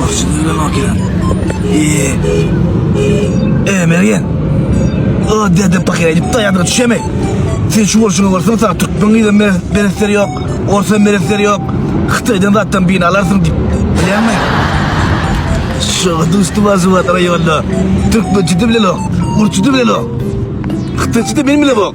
Başyny öňe bakýar. Eee. Eee, Mergen. Aa, dede pakyr edip daýandyra düşeme. Sen şu bolşuňa görseň, sana türkmen gyza meretleri ýok, orsa meretleri ýok. Hytaýdan zatdan birini alarsyň diýip. Bilýäňmi? Şoňa duşdum Aşgabat raýonda. Türkmençe de bilenok, ursça da bilenok. Hytaýça da men bilemok.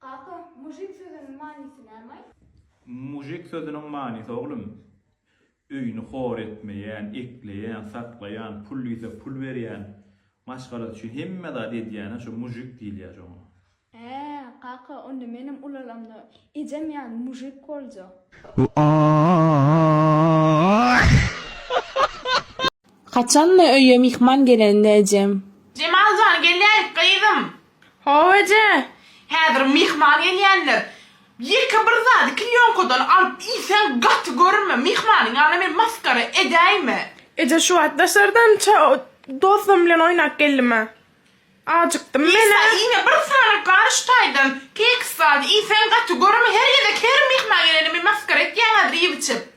Kaka, mujik sözüniň manysy nämaý? Mujik sözüniň manysy oglum, öýüni hor etmeýän, ekleýän, saklaýan, pul diýse pul berýän, maşgalasy üçin hemme zady edýäne şu mujik diýilýä şoňa. Hää, kaka, onda menem ulalamda ejem ýaly mujik boljak. Haçanda öýe myhman gelende ejem. Jemal jan gelýäýik gyzym. Hawa eje, häzir myhman gelýänler. Ýeke bir zady klýonkadan alyp iýseň gaty görme. Myhmanyň ýanyna men masgara edäýme. Eje şu wagt daşardan dostum bilen oýnap geldim-ä. Ajykdym men-ä. Isa, ine bir sany gar şu taýdan. Keks zady iýseň gaty görme. Her gezek her myhman gelende men masgara etýäň häzir iýip-içip.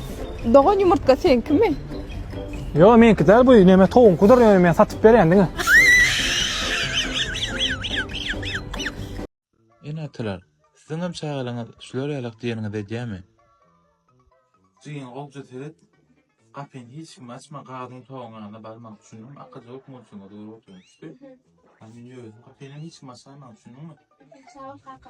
Dogan ýumurtga seňkimi? Ýok, meňki däl bu. Näme towuňkydyr, ýöne men satyp berýän diňe. Ene-atalar, siziňem çagalaryňyz şular ýalak diýeniňizi edýärmi? Jigim gowja seret, gapyny hiç kime açma, gazyň togaň ýanyna barma, düşündiňmi? Akylja bolup murtuňa dogry otur, düşdü? Ýöne men özüm gapyny hiç kime açaýman, düşündiňmi? Sag bol, kaka.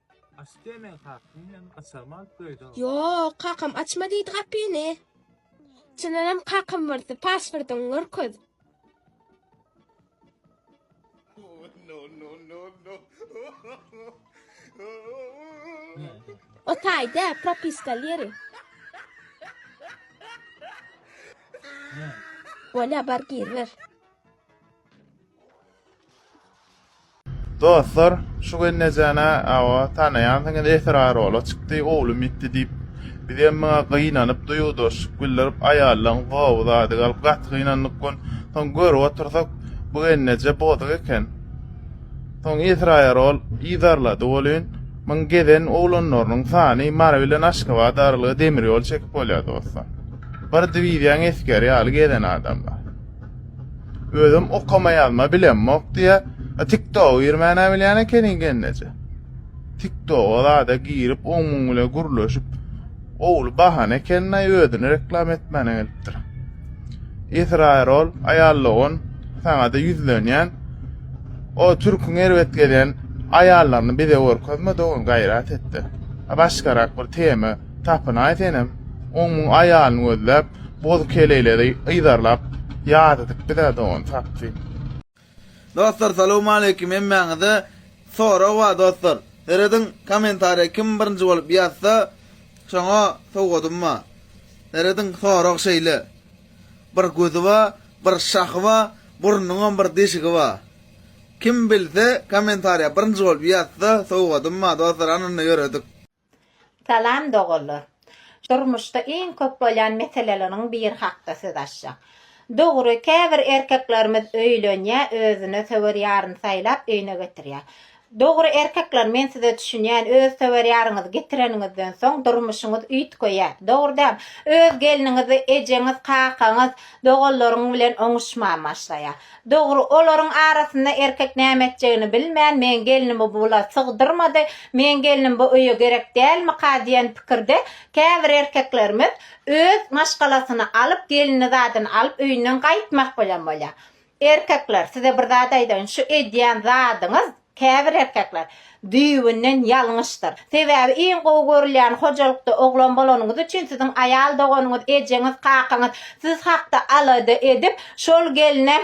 Açyp bermeň kakam hem açarmy alyp göýdä. Ýok, kakam açma diýdi gapyny. Çyndanam kakam birsi pasportyňy görkez. O taýda propiska ýeri. Bolýa bar gir ber. Dostlar, şu gelnejäni awa tanaýansyňyz esrar ola çykdy, owlum ýitdi diýip, bizem muňa gynanyp duýgudaşlyk bildirip aýallaň gowy zady galyp gaty gynandyk gün, soň görüp otursak bu gelneje bozuk eken. Soň esrar ol yzarlady welin, muň gezen oglanlarynyň sany Mary bilen Aşgabat aralygy demir ýol çekip bolýar dostlar. Bir diwiziýaň esgeri ýaly gezen adamlar. Özüm okama ýazma bilemok diýä. A TikTok girmäne bilýän ekeniň genneje. TikTok zada girip oň muň bilen gürleşip owul bahana ekenini aý özüni reklam etmäne gelipdir. Esraýer ol aýallogon saňada ýüzlenýän. O türküň erbet gelýän aýallaryny bize görkezme dogan gaýrat etde. A başgarak bir tema tapynaý senem. Oň muň aýalyny gözläp Boz keleýleri yzarlap ýadydyk bizä dogan tapdy. Dostlar salowmaleýkim hemmäňize sorag bar dostlar serediň komentariýa kim birinji bolup ýazsa şoňa sowgadym bar serediň sorag şeýle bir gözi bar bir şahy bar burnuňam bir deşigi bar kim bilse komentariýa birinji bolup ýazsa sowgadym bar dostlar hany indi ýöredik. Salam doganlar. Durmuşda iň köp bolýan meseleleriň biri hakda söz açjak. Dogry, käbir erkeklerimiz öýlenýär, özüne söwer ýaryny saýlap, öýüne getirýär. Dogry, erkekler, men size düşünýän, öz söwer ýaryňyzy getireniňizden soň, durmuşyňyz üýtgeýär. Dogry däl? Öz gelniňizi ejeňiz, kakaňyz, doganlaryň bilen oňuşman başlaýar. Dogry, olaryň arasynda erkek näme etjegini bilmän, Meň gelnim bu bula sygdyrmady, meň gelnim bu öýe gerek dälmika diýen pikirde käbir erkeklerimiz öz maşgalasyny alyp, gelini zadyny alyp öýünden gaýtmak bilen bolýar. Erkekler, size bir zat aýdaýyn, şu edýän zadyňyz Käbir erkekler, Düýbünden ýalňyşdyr. Sebäbi iň gowy görülýän hojalykda oglan bolanyňyz üçin siziň aýal doganyňyz, ejeňiz, kakaňyz siz hakda alada edip, şol gelne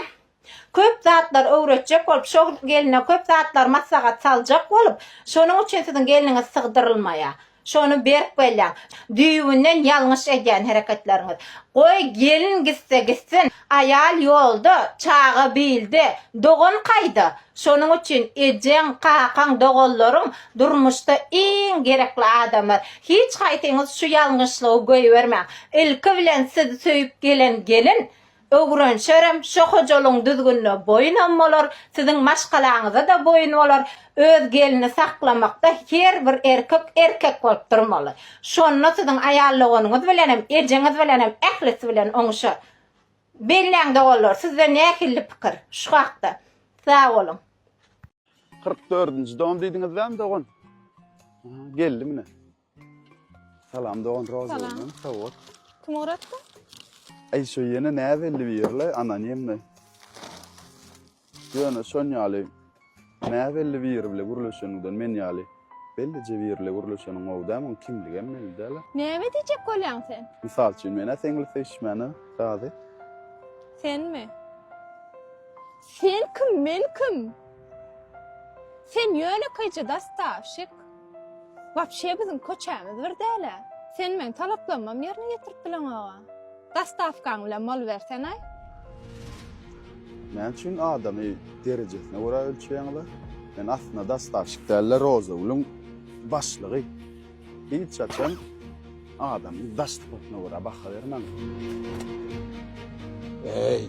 köp zatlar öwretjek bolup, şol gelne köp zatlar maslahat saljak bolup, şonuň üçin siziň gelniňiz sygdyrylmaýar. Şony berk belläň. Düýbünden ýalňyş edýän hereketleriňiz. Goý, gelin gitse gitsin, aýal ýolda, çaga bilde, dogan kaýda? Şonuň üçin ejeň, kakaň, doganlaryň durmuşda iň gerekli adamlar. Hiç haýsyňyz şu ýalňyşlygy goýbermäň. Ilki bilen sizi söýüp gelen gelin Öwrenşerem, şo hojalygyň düzgünine boýunam bolar, siziň maşgalaňyza-da boýun bolar. Öz gelini saklamakda her bir erkek erkek bolup durmaly. Şonda siziň aýal doganyňyz bilenem, ejeňiz bilenem ählisi bilen oňuşar. Belläň doganlar, sizde nähilli pikir şu hakda? Sag boluň! Kyrk dördünji don diýdiňiz bäm dogan? Geldi mine. Salam dogan roz Salam. bolsun. Sag bol. Kim ugratdy? Ay şu yine ne belli bir yerle anonimli. Yöne şon yalı ne belli bir yer bile gürleşeninden men yalı. Bellice bir yerle gürleşenin o da mı kimlige mi belli dala. Näme diýjek bolýaň sen? Misal için mena sengli seçmeni razi. Senmi? Sen kim, men kim? Sen ýönekeýje dastavşik. Wapşe biziň köçämiz bir däl-ä. Sen meň talaplarymam ýerine ýetirip bileňog-a. Dastavkaň bilen bolubersen-aý. Näme üçin adamy derejesine görä ölçeýäňiz-a? Men aslynda dastavşik däl-de, Rozagülüň başlygy. Hiç haçan adamyň daş sypatyna görä baha bermäň. Eý,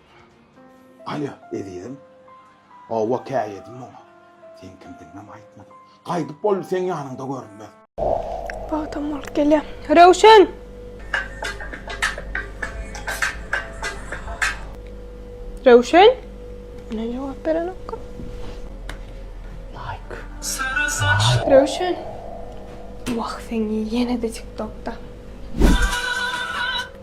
Alýa, ezizim. Hawa, käýedim muňa. Seň kimdigiňem aýtmadym. Gaýdyp boldy seň ýanyňda görünmez. Wagtam bolup gelýär. Röwşen! Röwşen! Ine jogap berenokka. Laýk. Laýk. Röwşen! Wah, seň ýene-de TikTokda.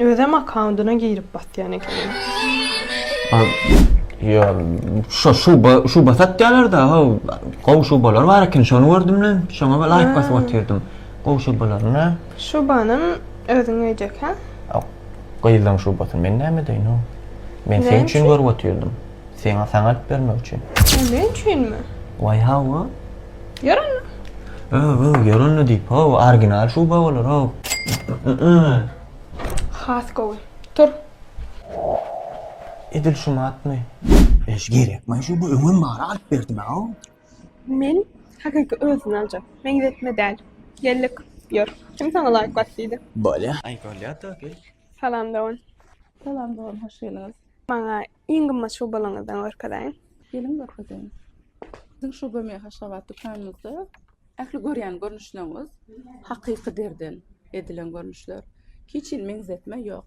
Özem akkaundyna girip basýan ekeniň. Ýa şo şuba şuba satýalar da ho gowy şubalar bar eken şony gördüm men şoňa bir laýk basyp otyrdym gowy şubalaryna. Şubanam özüň öýdäkä? Gyzlaň şubasyny men näme edeýin ho. Men sen üçin görüp otyrdym. Seňa saňa alyp bermek üçin. Sen üçinmi? Waý hawa. Ýören. Öw, öw, ýören ne diýip, öw, original şuba bolar, öw. Has gowy. Tur. Edil şu matmy? Eş gerek, men şu bu öňüm bara alyp berdim ha. Men hakyky özüni aljak. Men ýetme däl. Geldik. Ýör. Kim saňa laýyk bat diýdi? Bolýa. Aý, bolýa da, gel. Salam dogan. Salam dogan, hoş geldiňiz. Maňa Iň gymmat şubalaryňyzdan görkezeýin. Geliň görkezeýin. Biziň şu gömýe Haşgabat dükanymyzda ähli görýän görnüşlerimiz hakyky derden edilen görnüşler. Hiç hili meňzetme ýok.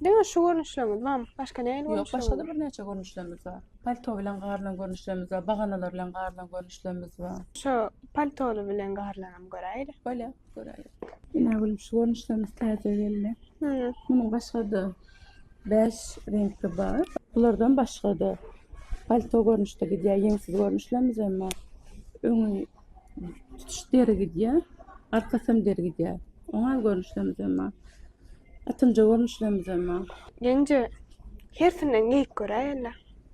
Diňe şu görnüşlerimiz barmy? Başga nähili görnüşler? Ýok, başga-da birnäçe görnüşlerimiz bar. Palto bilen garylan görnüşlerimiz bar, baganalar bilen garylan görnüşlerimiz bar. Şu paltoly bilen garylanam göräýeli. Bolýar, göräýeli. Ine, gülüm, şu görnüşlerimiz täze geldi. Munuň başga-da Bäş reňki bar. Bulardan başga-da palto görnüşde gidýär, ýeňsiz görnüşlemz hem bar. Öňi tutuş deri gidýär, arkasy hem deri gidýär. Oňal görnüşlemz hem bar. Atynja görnüşlemz hem bar. Ýeňje, hersinden geýip göräýeliň.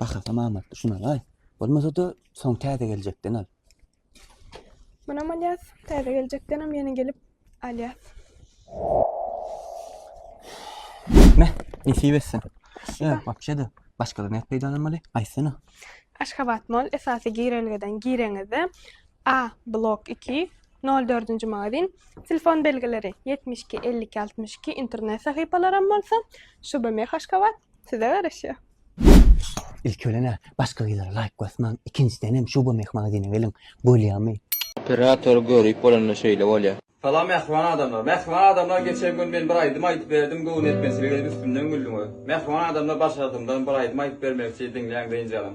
Bahasam amatly şuna laý. Bolmasa-da soň täze geljekden al. Munam alýas, täze geljekden hem ýene gelip alýas. Meh, nesip etsin. Ýa, wapşe-de başgadan näp peýdalanmaly? Aýtsana. Aşgabat Mall esasy girelgeden gireňizde A blok 2 04-nji magazin telefon belgileri 72 52 62 internet sahypalaram bolsa Şubemeh Aşgabat Size garaşýar. İlk ölene başka gyzlara layk basmaň. İkinjiden hem şu bu mehmagazine geliň. Bolýamy? Operator görüp bolanda şeýle bolýa. Salam mähriban adamlar. Mähriban adamlar geçen gün men bir aýdym aýdyp berdim göwün etmezçilik edip üstümden güldüňiz. Mähriban adamlar başardymdan bir aýdym aýdyp bermekçi diňläň dynjalyň.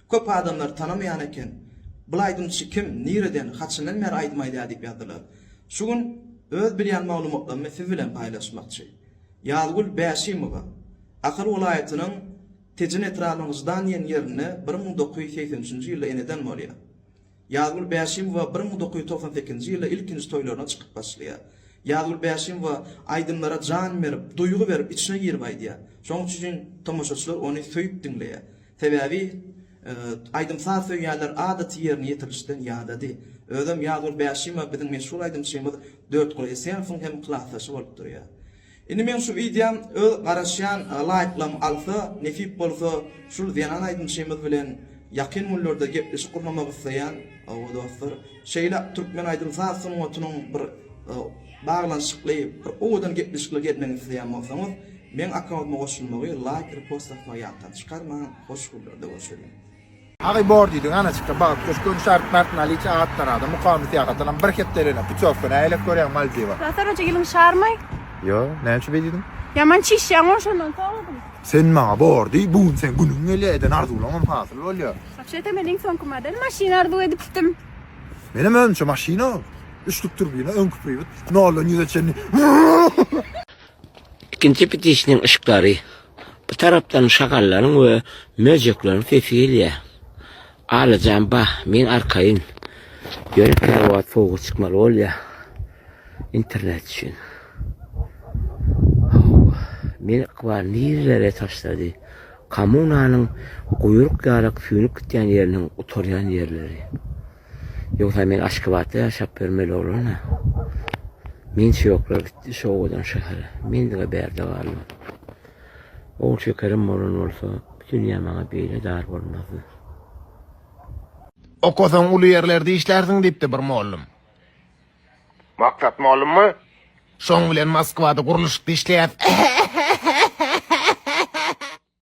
Köp adamlar tanamaýan eken, bul aýdymçy kim, nireden, haçandan bäri aýdym aýdýar diýip ýazdylar. Şu gün öz bilýän maglumatlarymy siz bilen paýlaşmakçy. Ýazgül Bäşimowa, Ahal welaýatynyň Tejen etrabynyň Ždan diýen ýerinde bir müň dokuz ýüz segsen üçünji ýylda eneden bolýar. Ýazgül Bäşimowa bir müň dokuz ýüz togsan sekizinji ýylda ilkinji toýlaryna çykyp başlaýar. Ýazgül Bäşimowa aýdymlara jan berip, duýgy berip, içine girip aýdýar. Şonuň üçin tomaşaçylar ony söýüp diňleýär. Sebäbi aýdym-saz söýýänler adaty ýerine ýetirlişden ýadady. Özem Ýazgül Bäşimowa biziň meşhur aýdymçymyz Dörtguly Esenowyň hem klasdaşy bolup durýar. Indi meň şu wideom öz garaşýan laýklarym alsa, nesip bolsa şul zenan aýdymçymyz bilen ýakyn günlerde gepleşik gurnamak isleýän we dostlar şeýle türkmen aýdym saz sungatynyň bir baglanyşykly bir owadan gepleşikler gelmegini isleýän bolsaňyz meň akkauntyma goşulmagy, laýk, repost atmagy ýatdan çykarmaň, hoş günlerde görşeliň. Agy bor diýdi, Ganaçyka bagyp göç, Göni şaryp Mert Naliç at tanada, Mukamy syýahatdanam bir hepdeligine putýowka, nälelik görýäň Maldiwa? Natar hoja iliň şarymy? Ýo, näme üçin beý diýdiň? Ýaman çişýäň o şondan soňam. Sen maňa bor diý, bu gün seň günüň gelýär, eden arzuwlaňam hasyl bolýar. Wapşe-de men iň soňky model maşyny arzuw edipdim. Menem özümçe maşyna, üçlük turbina, öňki priwod, noldan ýüze çenli. Ikinji pitişiniň yşyklary. Bu tarapdan şagallaryň we möjekleriň sesi gelýär. Alyjan bah, men arkaýyn. Ýöne kilowatt sowuga çykmaly bolýar. Internet üçin. Hawa, meni ykbal nirelere taşlady? Kommunanyň guýruk ýalak süýnüp gitýän ýeriniň gutarýan ýerleri. Ýogsa men Aşgabatda ýaşap ýörmeli oglan-a. Men şu ýoklar gitdi, şu owadan şähere. Mendiga bärde galdy. Ogul şekerim bolan bolsa, bu dünýä maňa beýle dar bolmazdy. Okasaň uly ýerlerde işlärsiň, diýipdi bir mollum. Maksat mollummy? Şoň bilen Moskwada gurluşykda işleýäs.